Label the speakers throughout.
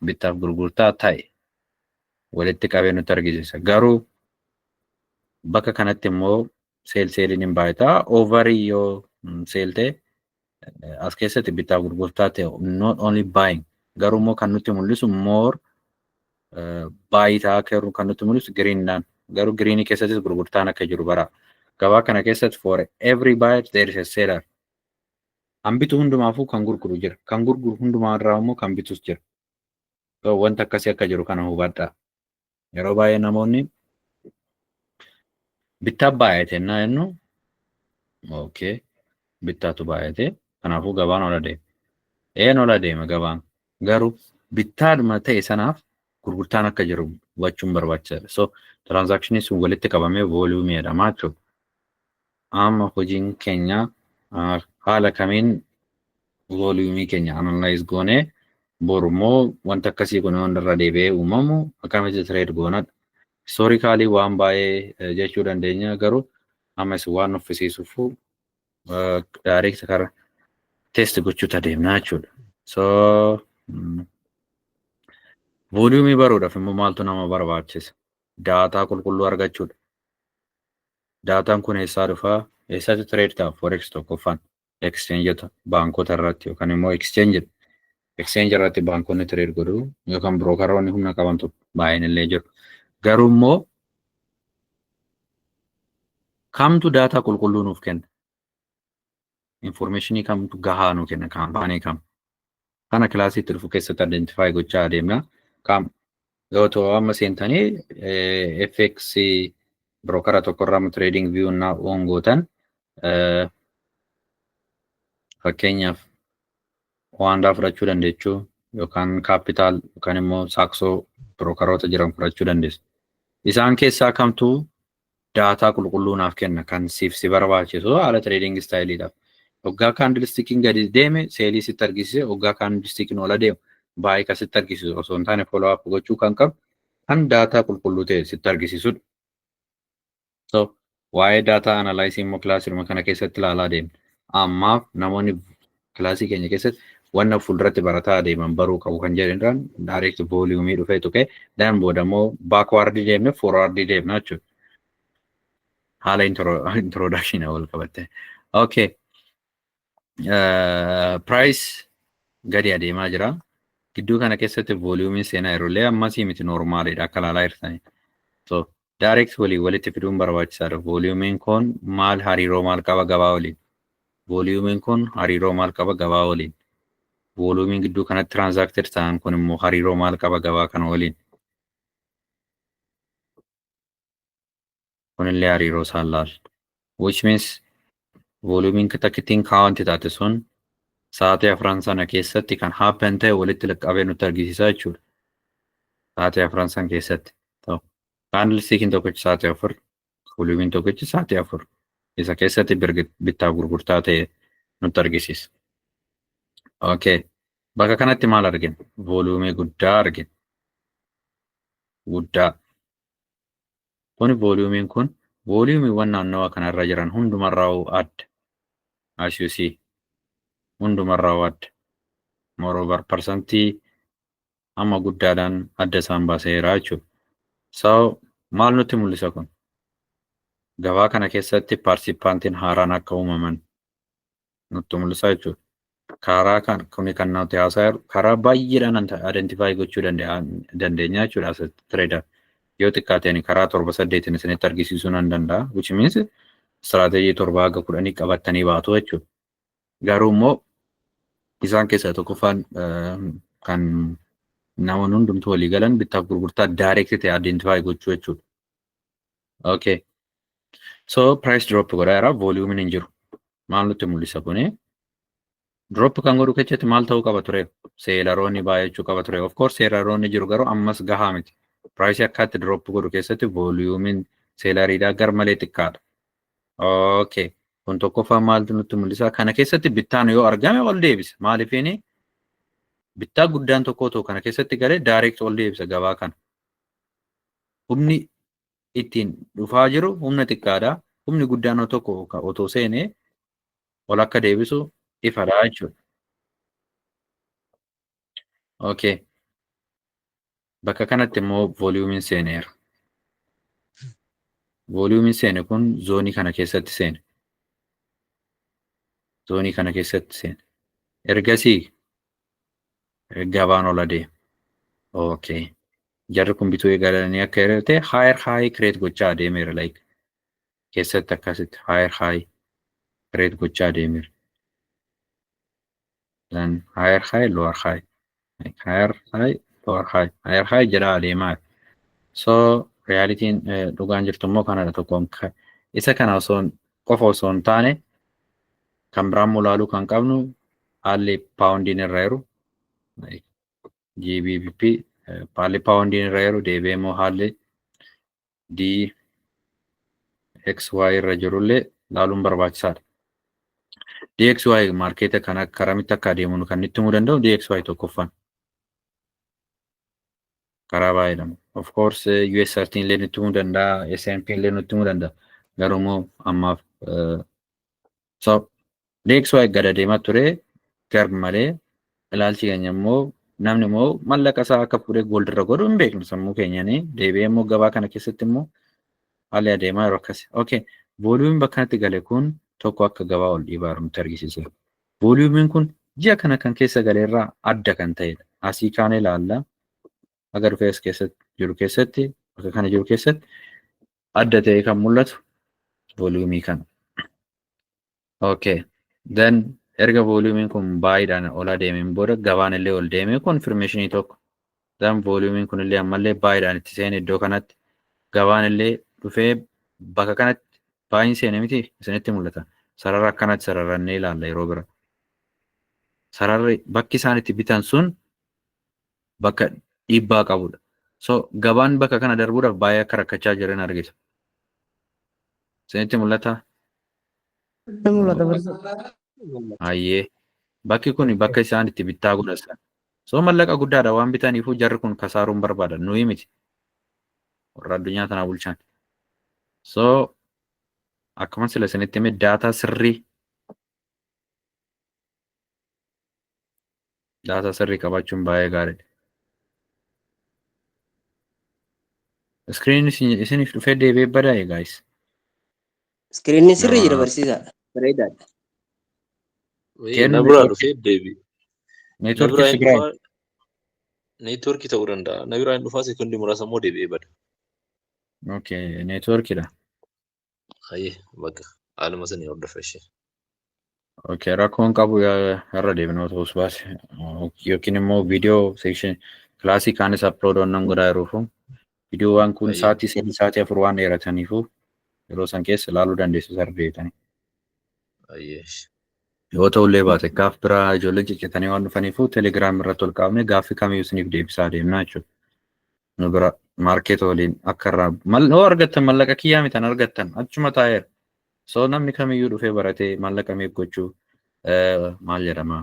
Speaker 1: bittaaf gurgurtaa ta'e walitti qabee nutti argisiisa. Garuu bakka kanatti immoo seel seeliin hin baay'ata. Oovarii yoo seelte as keessatti bittaa gurgurtaa ta'e not only buying garuu immoo kan nutti mul'isu more baay'ee ta'aa akka jiru kan nutti mul'isu giriinidhaan garuu giriinii keessattis gurgurtaan akka jiru bara gabaa kana keessatti for every buyer there is a seller kan bitu hundumaafuu kan gurguru jira kan gurguru hundumaa irraa immoo kan bitus jira wanta akkasii akka jiru kana hubadhaa Yeroo baay'ee namoonni bittaa baay'ate innaa jennu okay bittaatu baay'ate kanaafuu gabaan ol adeema. Een ol adeema gabaan garuu bittaadhuma ta'e sanaaf gurgurtaan akka jiru hubachuun barbaachisaadha. So tiraanzaakshiniin sun walitti qabamee vooliyuumii jedhama jechuudha. Amma hojiin keenya haala kamiin voliyumii keenya analyze goonee bor immoo wanta akkasii kun wanta irra deebi'ee uumamu akkamitti trade goonadha. Historically waan baay'ee jechuu dandeenya garuu amma isin waan nuffisiisuuf direct kara test gochuutti adeemnaa jechuudha. So voliyumii baruudhaaf immoo maaltu nama barbaachisa? Daataa qulqulluu argachuudha. Daataan kun eessaa dhufa? Eessatti trade ta'a? Forex tokkoffaan exchangeota baankota irratti yookaan immoo exchange exchange irratti baankonni trade godhu yookaan brookeroonni humna qabantu baay'een illee jiru. Garuu immoo kamtu daataa qulqulluu nuuf kenna? Informeeshinii kamtu gahaa nu kenna? Kaampaanii kam? Kana kilaasii itti dhufu keessatti identify gochaa adeemna. Qaam yoo ta'u amma seentanii eh, FX brookara tokkorraa amma trading view naa oon gootan eh, fakkeenyaaf waandaa fudhachuu dandeessu yookaan kaapitaal yookaan immoo saaksoo birookaroota jiran fudhachuu dandeessu. Isaan keessaa kamtu daataa qulqulluu naaf kenna kan siif si barbaachisu haala trading style Oggaa kaandilistikiin gadi deeme seelii sitti argisiise oggaa kaandilistikiin ol adeemu baay'ee kan sitti argisiisu osoo hin taane follow up gochuu kan qabu kan daataa qulqulluu ta'e sitti argisiisudha. So waa'ee daataa analysis immoo kilaasiruma kana keessatti ilaalaa deemna. Ammaaf namoonni kilaasii keenya keessatti wanna fuulduratti barataa adeeman baruu qabu kan jedhu irraan direct volume dhufee tuqee dan booda immoo backward deemne forward deemna jechuudha. Haala introduction wal qabatte. Okay. Price gadi adeemaa jira. Gidduu kana keessatti volume seenaa yeroo illee ammasii miti normaalidha akka ilaalaa jirtanii. So Direct waliin walitti fiduun barbaachisaadha. Volume kun maal hariiroo maal qaba gabaa waliin? Volume kun hariiroo maal qaba gabaa waliin? Volume gidduu kanatti transacted ta'an kun immoo hariiroo maal qaba gabaa kana waliin? Kunillee hariiroo isaan laalla. which means volume takittiin count taate sun sa'aatii afran sana keessatti kan happen ta'e walitti laqqabee nutti argisiisa jechuudha. Sa'aatii afran sana keessatti. Kaandilstiikiin tokkichi sa'aatii afur, volumiin tokkichi sa'aatii afur. Isa keessatti bittaa gurgurtaa ta'e nutti argisiisa. Okay. Bakka kanatti maal argina? Voluumii guddaa argina. Guddaa. Kuni voliyuumiin kun voliyuumiiwwan naannawa kana irra jiran hundumarraa'uu adda. As you see. Hundumarraa'uu adda. Moreover parsantii amma guddaadhaan adda isaan baaseera jechuudha. So maal nutti mul'isa kun? Gabaa kana keessatti paarsipaantiin haaraan akka uumaman nutti mul'isaa jechuudha. Karaa kan kuni kan nuti haasaa jiru karaa baay'eedhaan identify gochuu dandeenya jechuudha as trader. Yoo xiqqaateen karaa torba saddeetiin isinitti argisiisuu nan danda'a. Which means strategy torba haga kudhanii qabattanii baatu jechuudha. Garuu immoo isaan keessaa tokkoffaan kan namoonni hundumtuu walii galan bittaaf gurgurtaa direct ta'e identify gochuu jechuudha. Okay. So price drop godhaa jira volume hin jiru. Maal nutti mul'isa kuni? Drop kan godhu keessatti maal ta'uu qaba ture? Seelaroonni baay'achuu qaba ture. Of course seelaroonni jiru garuu ammas gahaa miti. Price akkaatti drop godhu keessatti volumein seelariidhaa gar malee xiqqaadha. Okay. Kun tokkoffaa maaltu nutti mul'isa? Kana keessatti bittaan yoo argame ol deebisa. Maaliifini? Bittaa guddaan tokko otoo kana keessatti galee direct ol deebisa gabaa kana. Humni ittiin dhufaa jiru humna xiqqaadha. Humni guddaan tokko otoo seene ol akka deebisu ifadha jechuudha. Okay. Bakka kanatti immoo vooliyuumiin seeneera. Vooliyuumiin seene kun zoonii kana keessatti seene. Zoonii kana keessatti seene. Ergasii gabaan ol adeema. Okay. Jarri kun bituu eegalanii akka hiriirte higher high create gochaa adeemeera like keessatti akkasitti higher high create gochaa adeemeera. Then higher high lower high like higher high lower high higher high jedhaa adeemaa. So realitiin eh, dhugaan jirtu immoo kanadha tokkoon ka- isa kana osoo hin- qofa osoo hin taane Kan biraa immoo ilaaluu kan qabnu haalli paawundiin irra jiru GBP haalli paawundiin irra jiru deebi'ee immoo haalli DXY irra jirullee ilaaluun barbaachisaadha. DXY maarkeeta kan karamitti akka adeemuun kan itti himuu danda'u DXY tokkoffaan karaa baay'eedhaan. Of course US 13 illee nutti himuu danda'a, S&P illee nutti himuu danda'a. Garuu immoo ammaaf So, deeksuu eeggada deemaa ture gar malee ilaalchi keenya immoo namni immoo mallaqa isaa akka fuudhee gold irra godhu hin beeknu sammuu keenyanii deebi'ee immoo gabaa kana keessatti immoo haalli adeemaa yeroo akkasi. Okay, vooliyumiin bakka kanatti gale kun tokko akka gabaa ol dhiibaa jiru nutti argisiisa. Vooliyumiin kun ji'a kana kan keessa gale irraa adda kan ta'edha. Asii kaanee ilaalla. Aga dhufee as keessatti jiru keessatti bakka kana jiru keessatti adda ta'ee kan mul'atu voliyumii kana. Okay. Then erga voliyumiin kun baay'eedhaan ol adeemeen booda gabaan illee ol deemee konfirmeeshinii tokko. Then voliyumiin kun illee ammallee baay'eedhaan itti seene iddoo kanatti gabaan illee dhufee bakka kanatti baay'een seene miti isinitti mul'ata. Sarara akkanatti sararannee ilaalla yeroo bira. Sararri bakki isaan itti bitan sun bakka dhiibbaa qabudha. So gabaan bakka kana darbuudhaaf baay'ee akka rakkachaa jiran argita. Isinitti mul'ata? Ni mul'ata barsiisa. Hayyee. Bakki kun bakka isaan itti bittaa godhatan. So mallaqa guddaadha waan bitaniifuu jarri kun kasaaruun barbaada. Nuyi miti. Warra addunyaa tanaa bulchan. So akkuma sila isinitti hime daataa sirrii Daataa sirrii qabaachuun baay'ee gaariidha. Iskiriin isiniif dhufee deebi'ee badaa'e gaayis. Iskiriinni
Speaker 2: sirrii jira barsiisaadha. Bareedaadha. Kennu Na
Speaker 3: biraa network- dhufee deebi. Na biraa Neetworkii hin Tigraay.
Speaker 1: dhufaa. Neetworkii ta'uu danda'a. Na
Speaker 3: biraa hin dhufaa sekondi muraasa immoo deebi'ee bada.
Speaker 1: Okay, neetworkiidha.
Speaker 3: Hayyee bakka haaluma sanii hordofa ishee. Okay,
Speaker 1: rakkoon qabu yaa- irra deebinee otoo us baase yookiin immoo viidiyoo seekshin kilaasii kaanis aplood onnan godhaa jiruufu viidiyoowwan kun Ayyo. sa'aatii sadii sa'aatii afur waan dheerataniifu yeroo san keessa ilaaluu dandeessu sarara deebitanii.
Speaker 3: Hayyee ishee.
Speaker 1: Yoo ta'u illee baate gaaf biraa ijoolleen ciccitanii waan dhufaniifu telegiraam irratti ol qabnee gaaffii kamiyyuu isiniif deebisaa deemna jechuudha. nu bira market waliin akka irraa mal hoo argattan mallaqa kiyyaa mitan argattan achuma taa'eera so namni kamiyyuu dhufee baratee mallaqa meeq gochuu eh, maal jedhama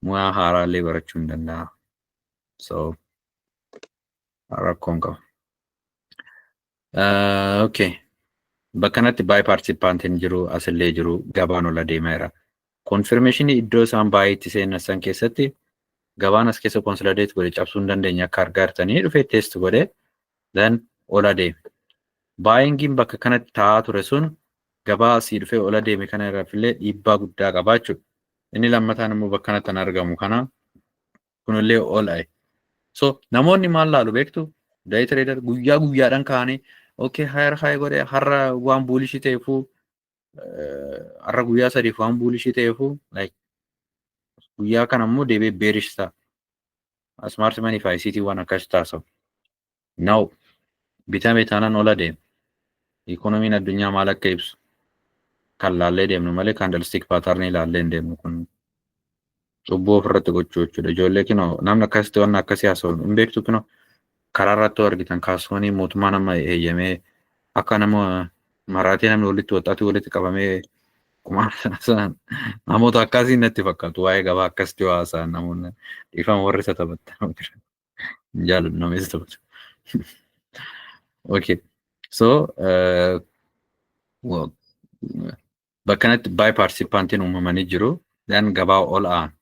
Speaker 1: muyaa haaraa illee barachuu hin danda'a so rakkoon qaba Ah, Okay. Bakka kanatti baay'ee paartisipaantiin jiru asillee jiru gabaan ol adeemaa jira. Konfirmeeshinii iddoo isaan baay'ee itti seenessan keessatti gabaan as keessa konsolideet godhe cabsuu hin dandeenye akka argaa jirtanii dhufee teest godhe then ol adeeme. Baayingiin bakka kanatti taa'aa ture sun gabaa asii dhufee ol adeeme kana irraafillee dhiibbaa guddaa qabaa jechuudha. Inni lammataan immoo bakka kanatti kan argamu kana kunillee ol aye. So namoonni maal laalu beektu day trader guyyaa guyyaadhaan kaanii okay higher high godhe har'a waan buulishii ta'eefuu har'a guyyaa sadiif waan buulishii ta'eefuu like guyyaa kana immoo deebi'ee bearish ta'a. Smart money fi ICT waan akkas taasisu. Now bitame taanaan ol adeema. Ikoonomiin addunyaa maal akka ibsu kan laallee deemnu malee kaandalstik paatarnii laallee hin deemnu kun cubbuu ofirratti gochuu jechuudha. Ijoollee kinoo namni akkasitti waan akkasii haasa'u hin beektu kinoo karaa irratti yoo argitan kaasuunii mootummaa nama eeyyamee akka nama maraatee namni walitti waxxaatii walitti qabamee kumaan namoota akkasii natti fakkaatu waa'ee gabaa akkasitti yoo haasa'an namoonni dhiifama warri isa taphattan. Jaalu nameessa taphatu. Okay. So, uh, well, bakkanatti by participantiin uumamanii jiru. Then gabaa ol aan.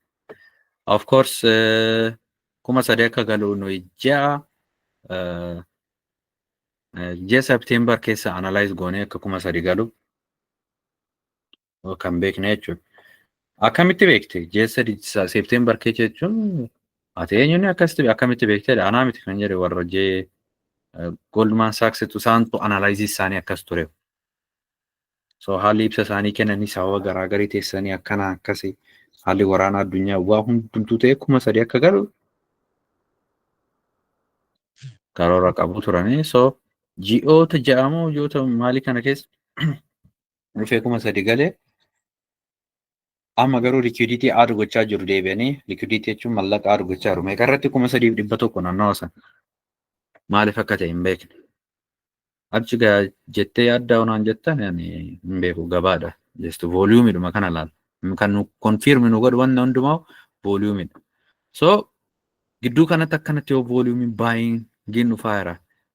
Speaker 1: Of course, uh, kuma sadii akka galu nuyi ja'a. Uh, ji'a September keessa analyze goonee akka kuma sadii galu. kan beekne jechuudha. Akkamitti beekte? Ji'a sadii seepteembar keessa jechuun ati eenyuun akkasitti akkamitti beektedha? Anaa miti kan jedhe warra jee Goldman Sachs tu isaantu analaayizii isaanii akkas ture. So haalli ibsa isaanii kennanii sababa garaa garii teessanii akkana akkasi haalli waraana addunyaa waa hundumtuu ta'e kuma sadii akka galu karoora qabu turanii so ji'oota ja'amoo ji'oota maalii kana keessa dhufee kuma sadi gale amma garuu likiiditii aad gochaa jiru deebi'anii likiiditii jechuun mallaqa aad gochaa jiru meeqa irratti kuma sadiif dhibba tokko naannawa sana maaliif akka ta'e hin beekne achi gaa jettee yaaddaa onaan jettan ani hin beeku gabaadha jestu vooliyuumidhuma kana laal kan nu konfiirmi nu godhu wanna hundumaa vooliyuumidha so Gidduu kanatti akkanatti yoo volume buying giin dhufaa jira.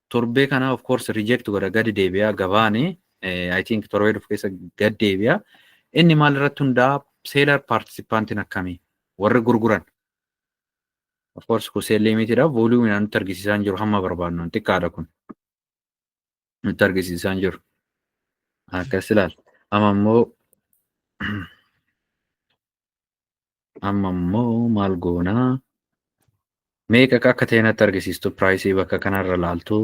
Speaker 1: Torbee kana of course reject godha gadi deebi'a gabaani. I think torbee dhufu keessa gad deebi'a. Inni maal irratti hundaa'a seelar paartisipaantiin akkamii warri gurguran. Of course kun seel liimitiidha. Volume nutti argisiisaa hin jiru hamma barbaadnu xiqqaadha kun. nutti argisiisaa hin jiru. Akkas ilaala. Amma immoo amma immoo maal goonaa? Meeqa akka ta'e natti argisiistu piraayisii bakka kanarra laaltu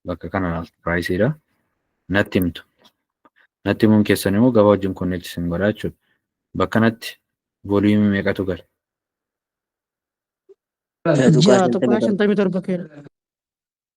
Speaker 1: bakka kana laaltu piraayisiidha. Natti himtu. Natti himuun keessan immoo gabaa wajjin konneekti isin godha jechuudha. Bakka natti vooliimii meeqatu gala? Ja'a
Speaker 4: tuqaa shantamii torba keera.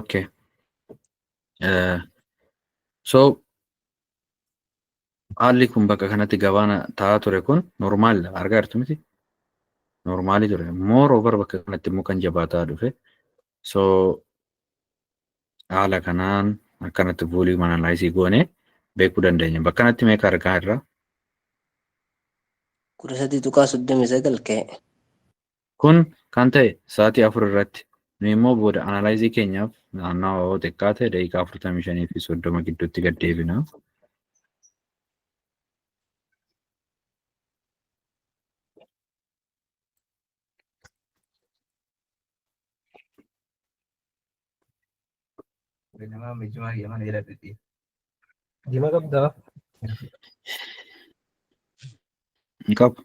Speaker 1: Okay. Eh, so haalli kun bakka kanatti gabaana ta'aa ture kun normaal argaa jirtu miti normaali ture moor over bakka kanatti immoo kan jabaataa dhufe so haala kanaan akkanatti vuulii manalaayisii goone beekuu dandeenya bakka kanatti meeqa argaa irra
Speaker 2: kudha sadii tuqaa soddomii sagal ka'e Kun
Speaker 1: kan ta'e sa'aatii 4 irratti. Nuyi immoo booda analaayizii keenyaaf naannawa yoo xiqqaate daqiiqaa 45 fi 30 gidduutti gad deebina. Dima qabdaa? Hin qabu.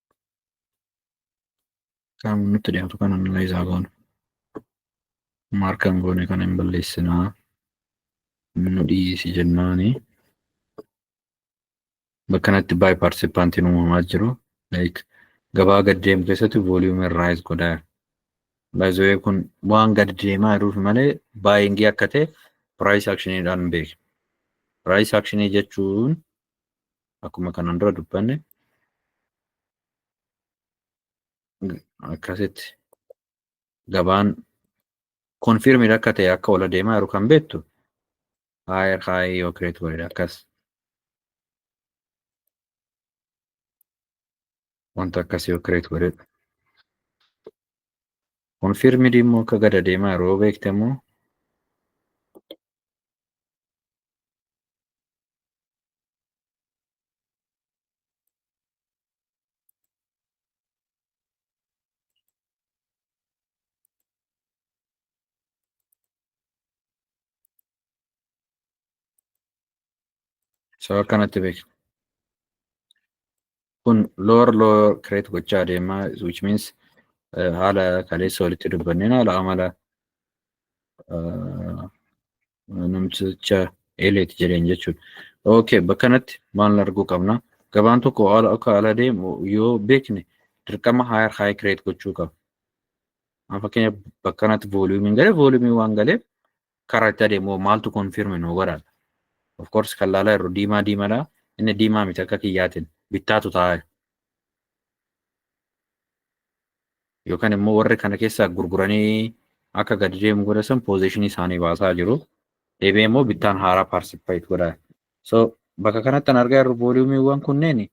Speaker 1: Kan nutti dhiyaatu kana nullee isaa goona. Maarkaan goone kana hin balleessinaa. Nu dhiisi jennaani. Bakka kanatti baay paartisipaantiin uumamaa jiru. Like gabaa gad deemu keessatti vooliyuumii raayis godhaa. Baay'ee kun waan gad deemaa jiruuf malee baay'ingii akka ta'e piraayis akshiniidhaan beekna. Piraayis akshinii jechuun akkuma kanaan dura dubbanne akkasitti gabaan konfirmid akka ta'e akka ol adeemaa jiru kan beektu higher high yoo create godhe akkas wanta akkas yoo create godhe konfirmid immoo akka gad adeemaa jiru yoo beekte immoo Sababa kanatti beekna. kun lower lower create gochaa adeema which means eh, haala kaleessa walitti dubbanneen haala amala eh, namticha eeleeti jedheen jechuudha. Okay, bakka kanatti maal arguu qabna? Gabaan tokko haala akka haala deemu yoo beekne dirqama higher high create gochuu qaba. Amma fakkeenyaaf bakka kanatti vooliyuumiin galee vooliyuumiin waan galeef Karaa itti adeemu hoo maaltu confirm nuu godha? Of course kan laalaa jirru diimaa diimadha. Inni diimaa miti akka kiyyaatiin bittaatu taa'aa yookaan immoo warri kana keessaa gurguranii akka gadi deemu godha san poozeeshinii isaanii baasaa jiru. Deebi'ee immoo bittaan haaraa paarsipaayit godha. So bakka kanatti kan argaa jirru vooliyuumiiwwan kunneen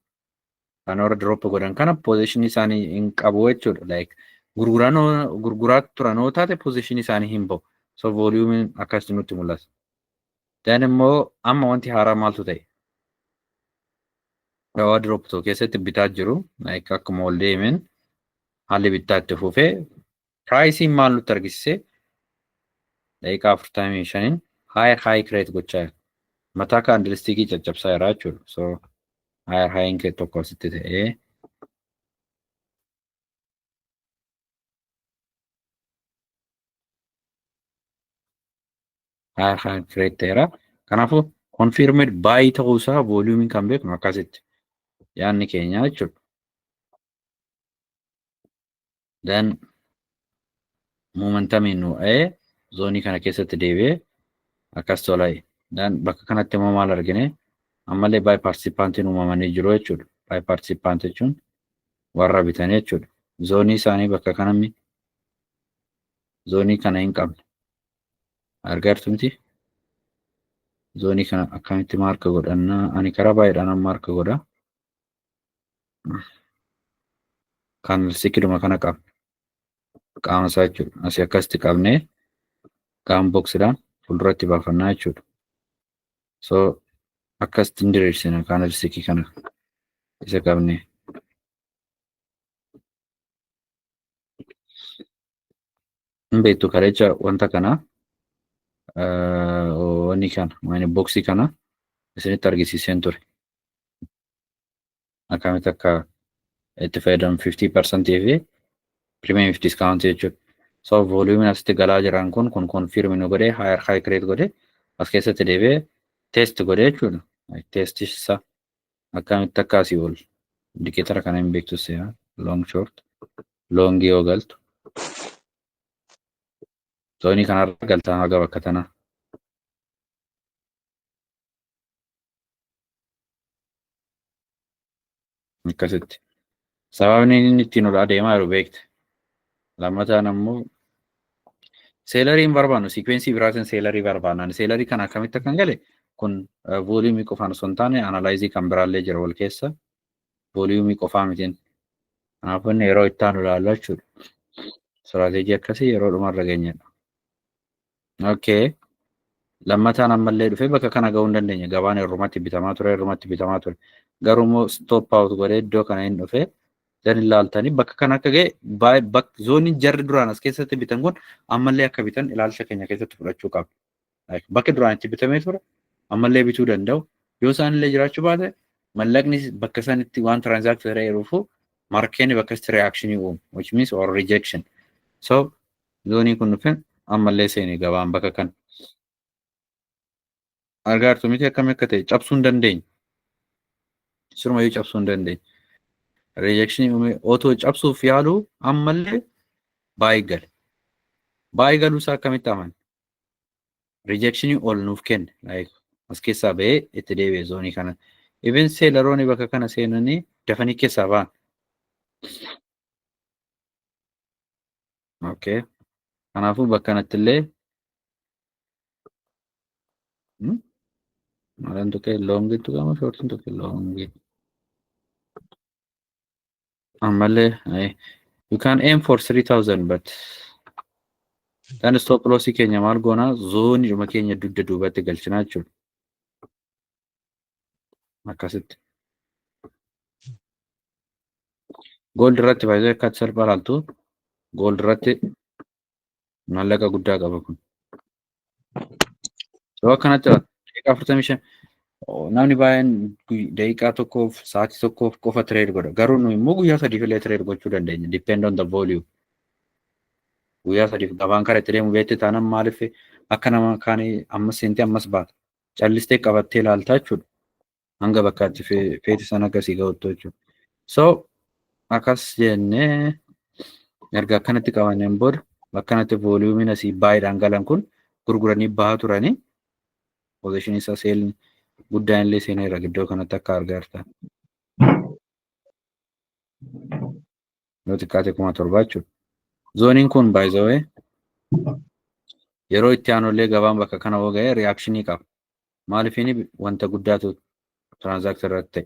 Speaker 1: kan warra drop godhan kana position isaanii hin qabu jechuudha like gurguranoo gurguraa turanoo taate position isaanii hin ba'u so volume akkasitti nutti mul'ata then immoo amma wanti haaraa maaltu ta'e dawaa drop tokko keessatti bitaa jiru like akkuma ol deemeen haalli bittaa itti fufee Piraayisiin maal nutti argisiise? Daqiiqaa afurtamii shaniin higher high create gochaa jira. Mataa kaandilistiikii caccabsaa jira jechuudha. So higher high create tokko asitti ta'ee higher high create ta'eera. Kanaafuu confirmed buy ta'uu isaa vooliyuumiin kan beeknu akkasitti yaadni keenya jechuudha. dan momentamiin nu dha'ee zoonii kana keessatti deebi'ee akkas tola'e dan bakka kanatti immoo maal argine ammallee baay paartisipaantiin uumamanii jiru jechuudha baay paartisipaantii jechuun warra bitan jechuudha zoonii isaanii bakka kanammi zoonii kana hin qabne argartu miti zoonii kana akkamitti maarka godhannaa ani karaa baay'eedhaan maarka godha kan sikiluma kana qabna qaama isaa jechuudha asii akkasitti qabnee qaama boksiidhaan fuulduratti baafannaa jechuudha so akkasitti hin diriirsina kaana risikii kana isa qabnee hin beektu kalecha wanta kana wanni kana maani boksii kana isinitti argisiiseen ture akkamitti akka itti fayyadamu 50% fi premium fi discount jechuudha. So volume asitti galaa jiran kun kun confirm nu godhe higher high create godhe as keessatti deebi'ee test godhe jechuudha. Test isa akkamitti akka asii ol indicator kana hin beektu seera long short long yoo galtu. Zoonii kanarra galtaa haga bakka tanaa. akkasitti sababni inni ittiin ol adeemaa jiru beekte lammataan ammoo seelarii hin barbaannu siikweensii biraatiin seelarii barbaannaan seelarii kana akkamitti akkan gale kun vooliyumii qofaan osoo hin taane analaayizii kan biraallee jira wal keessa vooliyumii qofaa mitiin kanaafuu inni yeroo itti aanu ilaalla jechuudha istiraateejii akkasii yeroo dhumarra geenyedha Okay. Lammataan ammallee dhufee bakka kana gahuu hin dandeenye. Gabaan irrumatti bitamaa ture, irrumatti bitamaa ture. Garuu immoo stop out godhee iddoo kana hin dhufe. Zan ilaaltanii bakka kana akka ga'e baay- bak- zooniin jarri duraan as keessatti bitan kun ammallee akka bitan ilaalcha keenya keessatti fudhachuu qabna. Like, Bakki duraan itti bitamee ture ammallee bituu danda'u. Yoo isaan illee jiraachuu baate mallaqni bakka sanitti waan transact ta'eeruufu markeeni bakka itti reaction uumu which means or rejection. So Zoonii kun dhufe ammallee seene gabaan bakka kan. Argaa jirtu miti akkami akka ta'e cabsuu hin dandeenye. Sirumayyuu cabsuu hin dandeenye. Rejekshinii uumee otoo cabsuuf yaaluu ammallee baay'ee gale. Baay'ee galuu isaa akkamitti amane? Rejekshinii ol nuuf kenne. As keessaa ba'ee itti deebi'e zoonii kana. Even seelaroonni bakka kana seenanii dafanii keessaa ba'an. okay kanaafuu bakka kanatti illee maalan tuqee loongi tuqama shoortiin tuqe loongi ammallee you can aim for 3000 but kan stop loss keenya maal goonaa zoonidhuma keenya dugda duubatti galchinaa jechuudha akkasitti gold irratti faayidaan akka salphaa ilaaltu gold irratti maallaqa guddaa qaba kun yoo akkanatti daqiiqaa afurtamii shan namni baay'een daqiiqaa tokkoof sa'aatii tokkoof qofa tireed godha garuu nuyi immoo guyyaa sadiif illee tireed gochuu dandeenya depend on the volume guyyaa sadiif gabaan kara itti deemu beekte taanaan maaliif akka nama kaanii ammas seentee ammas baata callistee qabattee ilaaltaa jechuudha. Hanga bakka ati feete sana akka sii ga'uttu jechuudha. So akkas jennee erga akkanatti qabanneen booda akkanatti vooliyuumiin asii baay'eedhaan galan kun gurguranii bahaa turanii poozishinii isaa seelni guddaan illee seeneera iddoo kanatti akka argaartan. yoo xiqqaate kuma torbaa jechuudha. Zooniin kun by the way yeroo itti aanullee gabaan bakka kana hoo ga'e reakshinii qaba. Maaliifini wanta guddaatu tiraanzaaktii irratti ta'e.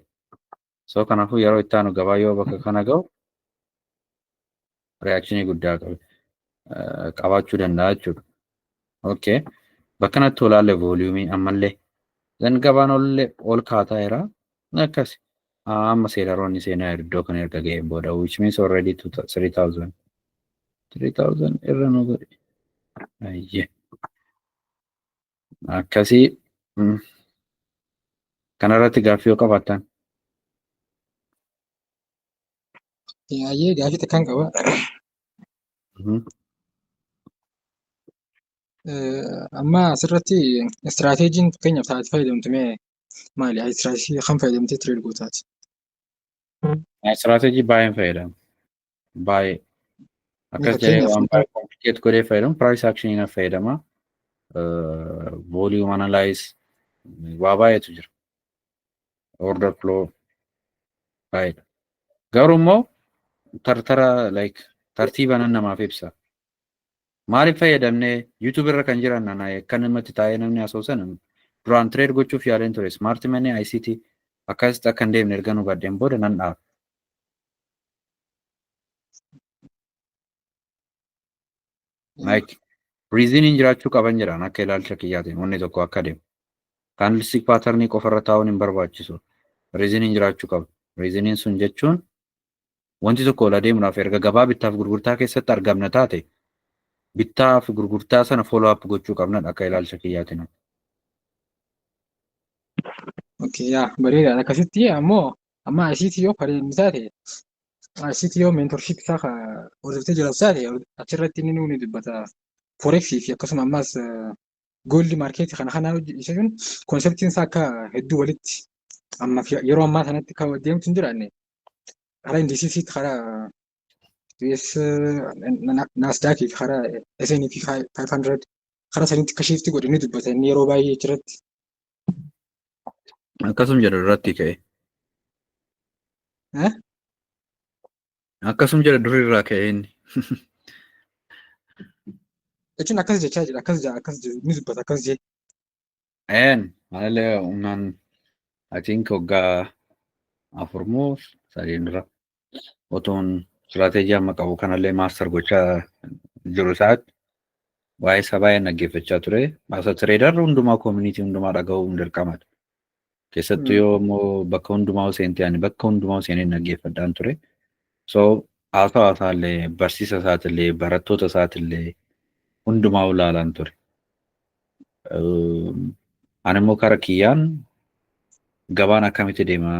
Speaker 1: So kanaafuu yeroo itti aanu gabaa yoo bakka kana ga'u reakshinii guddaa qaba. qabaachuu danda'a jechuudha. Okay. Bakka natti olaalle vooliyuumii ammallee. Zan gabaan ollee ol kaataa jira. Akkas. Amma seelaroonni seenaa iddoo kana erga ga'een booda which means already 3000. 3000 irra nu godhe. Ayyee. Akkasii kanarratti gaaffii yoo qabaattan.
Speaker 5: Ayyee gaaffii takkaan qaba. Amma asirratti istiraateejiin fakkeenyaaf taate fayyadamtu mee maali? Istiraateejii kan fayyadamtee tireed gootaati.
Speaker 1: Istiraateejii baay'een fayyadamu. Baay'ee. Akkas jedhee Fakkeenyaaf waan baay'ee komplikeet godhee fayyadamu. Piraayis akshinii na fayyadama. Vooliyuum analaayis waa baay'eetu jira. order flow file garuu immoo tartara like tartiiba nan namaaf ibsa maaliif fayyadamne youtube irra kan jiran ana akka namatti taa'ee namni asoosan duraan trade gochuuf yaaleen ture smart money ICT akkasitti akka hin deemne erga nu badheen booda nan dhaaba. Like riiziniin jiraachuu qaban jedhaan akka ilaalcha kiyyaatiin wanni tokko akka deemu. Kaandilstik paatarnii qofarra taa'uun hin barbaachisu. Riiziniin jiraachuu qaba. Riiziniin sun jechuun wanti tokko ol adeemuudhaaf erga gabaa bittaaf gurgurtaa keessatti argamna taate bittaa fi gurgurtaa sana follow up gochuu qabnadha akka ilaalcha kiyyaatiin.
Speaker 5: Okay, yaa bareedaadha. Akkasitti ammoo amma asiitii yoo pareenni taate CTO mentorship isaa ka hordoftee jiraatu isaati achirratti inni nuuni dubbata forex fi akkasuma ammas gooldi maarkeetii kana kanaa jechuun konseptiin isaa akka hedduu walitti amma fi- yeroo ammaa sanatti kan deemtu hin jiraanne karaa indisiisii karaa US naasdaak fi karaa SNP 500 karaa sanitti akka shiifti godhe ni dubbata inni yeroo baay'ee achirratti
Speaker 1: Akkasum jedha duratti ka'e. Eh? Akkasum jedha durii irraa ka'e inni.
Speaker 5: Jechuun akkas jechaa jira akkas jira akkas jira ni dubbata akkas jee. Een malee
Speaker 1: humnaan atiin hoggaa afur moo sadiin dura otoon istiraateejii amma qabu kanallee maaster gochaa jiru isaatti waa'ee isaa baay'een dhaggeeffachaa ture. Maaster tireedar hundumaa koomunitii hundumaa dhaga'uun dirqamadha. Keessattuu yoo immoo bakka hundumaa seentee ani bakka hundumaa seenee dhaggeeffadhaan ture. So haasawa isaallee barsiisa isaatillee barattoota isaatillee hundumaa ulaalaan ture. Ani immoo kara kiyyaan gabaan akkamitti deema?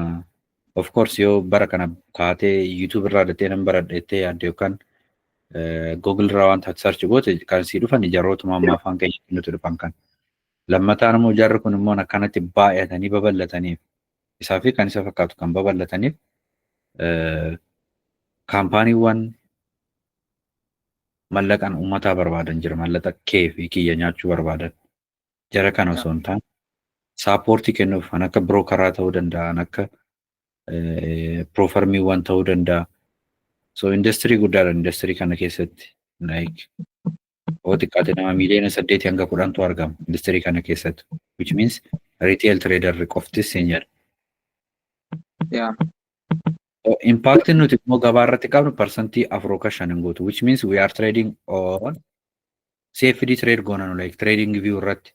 Speaker 1: Of course yoo bara kana kaatee YouTube irraa dattee nan baradha jettee yaadde yookaan Google irraa wanta ati search goote kan sii dhufan ijaarrootuma amma afaan keenya kennutu dhufan kan. Lammataan immoo ijaarri kun immoo akkanatti baay'atanii babal'ataniif isaa fi kan isa fakkaatu kan babal'ataniif kaampaaniiwwan mallaqan ummataa barbaadan jira mallaqa kee fi kiyya nyaachuu barbaadan jara kana osoo hin taane saapoortii kennuuf kan akka birookaraa ta'uu danda'a kan akka piroofarmiiwwan ta'uu danda'a so industirii guddaadha industirii kana keessatti like yoo xiqqaate nama miiliyoona saddeetii hanga kudhantu argama industirii kana keessatti which means retail trader qoftis siin jedha Yeah. Impaaktiin nuti immoo gabaa irratti qabnu parsantii afur yookaan shan hin guutu. Which means we are trading on CFD trade goona nu like trading view irratti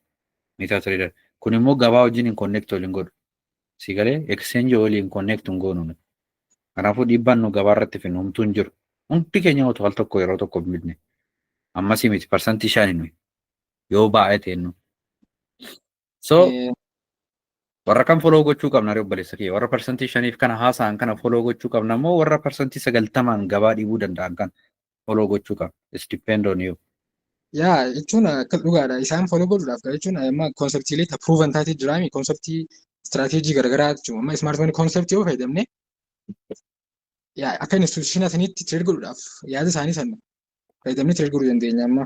Speaker 1: meetaa trader. Kun immoo gabaa wajjin hin connect waliin godhu. Si galee exchange waliin connect hin goonu nuti. Kanaafuu dhiibbaan nu gabaa irratti finu homtuu hin jiru. Hundi keenya otoo al tokko yeroo tokko bitne. Ammasii miti parsantii shan nuyi yoo baay'ee ta'e nu. So Eh, warra kan foloo gochuu qabna ree obboleessa kee warra parsantii shaniif kana haasa'an kana foloo gochuu qabna immoo warra parsantii sagaltamaan gabaa dhiibuu danda'an kan foloo gochuu qabna. It's depend on you. Yaa
Speaker 5: jechuun akka dhugaadha. Isaan foloo godhuudhaaf gara jechuun amma konseptiilee ta proven taatee jiraami konseptii istiraateejii garaagaraa jechuun amma smart money konseptii yoo fayyadamne yaa akka instituushinaa saniitti tireed godhuudhaaf yaada isaanii sana fayyadamnee tireed godhuu dandeenya amma.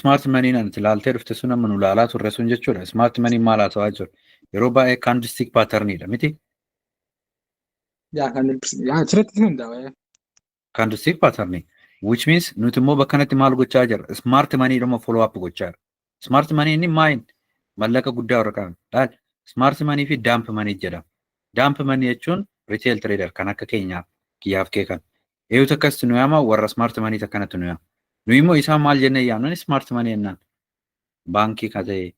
Speaker 1: Smart maniin ati ilaaltee dhufte sun amma nu ilaalaa turre sun jechuudha. Smart maniin maal haasawaa jiru? Yeroo baay'ee candlestick patternidha miti? Yaa kan
Speaker 5: yaa asirratti hundaa'e. Candlestick
Speaker 1: pattern which means nuti immoo bakka kanatti maal gochaa jirra? Smart money dhuma follow up gochaa jirra. Smart money inni maayin mallaqa guddaa warra qaban. Laal smart money fi dump money jedhama. Dump money jechuun retail trader kan akka keenyaa kiyyaaf kee kan Eeyu takkasitti nu yaama warra smart money takkanatti nu yaama. Nu immoo isaan maal jennee yaamnan smart money jennaan. Baankii ka ta'e,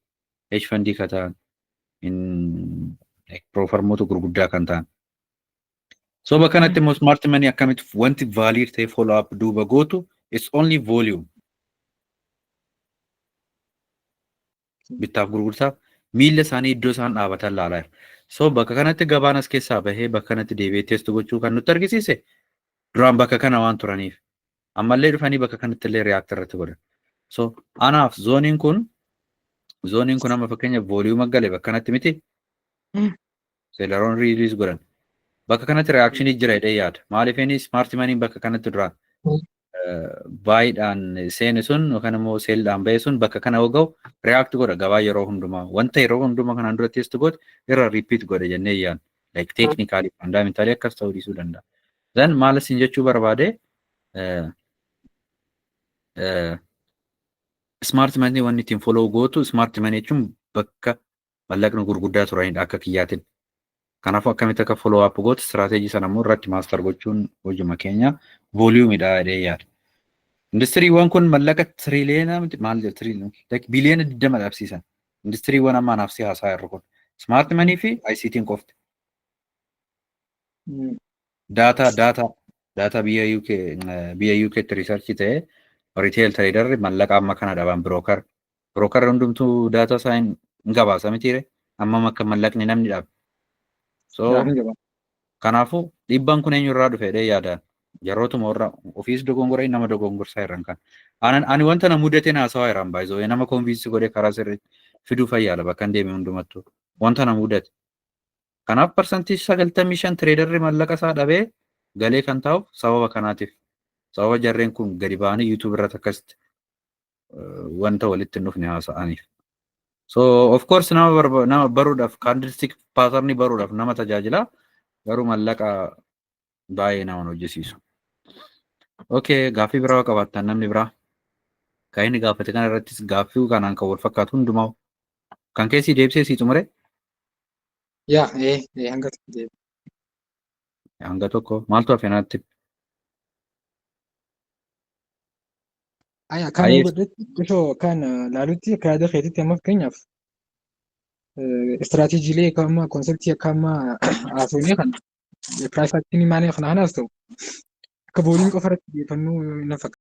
Speaker 1: hedge fundii ka ta'an, in- like piroofarmoota gurguddaa kan ta'an. So bakka kanatti immoo smart money akkamitti wanti valid ta'e follow up duuba gootu it's only volume. bittaaf gurgurtaaf miilla isaanii iddoo isaan dhaabatan ilaalaa jira. So bakka kanatti gabaan as keessaa bahee bakka kanatti deebi'ee testu gochuu kan nutti argisiise duraan bakka kana waan turaniif ammallee dhufanii bakka kanatti illee react irratti godhan. So anaaf zooniin kun zooniin kun amma fakkeenya vooliyuuma gale bakka kanatti miti. Seelaroon riiliis godhan. Bakka kanatti reakshinii jira jedhee yaada. Maaliif inni smart maniin bakka kanatti duraan baay'eedhaan seene sun yookaan immoo seeldhaan ba'e sun bakka kana yoo ga'u react godha gabaa yeroo hundumaa wanta yeroo hundumaa kanaan dura test godhe irra repeat godhe jennee yaadna. Like technically fundamentally akkas ta'uu dhiisuu danda'a. Then maal isin jechuu barbaade smart money wanni ittiin follow gootu smart money jechuun bakka mallaqni gurguddaa turanidha akka kiyyaatin. Kanaafuu akkamitti akka follow up gootu strategy sana immoo irratti master gochuun hojuma keenya volume dha jedhee yaada. Industiriiwwan kun mallaqa triliyeena miti maal jedhu triliyeena like biliyeena 20 dhabsiisan. Industiriiwwan amma anaaf si haasaa jirru kun smart money fi ICT'n qofti. Data data data biyya UK biyya UKtti research ta'ee retail trader mallaqa amma kana dhaban broker Brookarri hundumtuu daataa isaa hin hin gabaasa mitiire hammam akka mallaqni namni dhaabe. So Yaa hin gabaasa. kanaafuu dhiibbaan kun eenyu irraa dhufe jedhee yaadaan jarootuma warra ofiis dogongoree nama dogongorsaa irraan kan. Ani ani wanta na mudateen haasawaa irraan baay'isoo nama konviinsii godhee karaa sirrii fiduu fayyaala bakka hin deeme hundumattuu wanta na mudate. Kanaaf parsantii sagaltamii shan tireedarri mallaqa isaa dhabee galee kan taa'u sababa kanaatiif sababa jarreen kun gadi ba'anii yuutuub irratti akkasitti wanta walitti hin dhufne haasa'aniif. So of course nama barba- nama baruudhaaf candlestick pattern baruudhaaf nama tajaajila garuu mallaqa baay'ee nama hin hojjisiisu. Okay, gaaffii biraa yoo qabaattan namni biraa kan inni gaafate kana irrattis gaaffii kanaan kan wal fakkaatu hundumaa kan keessi deebisee sii xumure Yaa, ee, ee, hanga tokko deebi. hanga tokko maaltu hafe naatti
Speaker 5: Aya kan Ayee. godhetti osoo kan laalutti akka yaada keetitti amma fakkeenyaaf istiraateejiilee akka amma konseptii akka amma haasofnee kan piraayifaaktiin maanee kana kanaas ta'u akka booliin qofa irratti xiyyeeffannoo hin fakkaatu.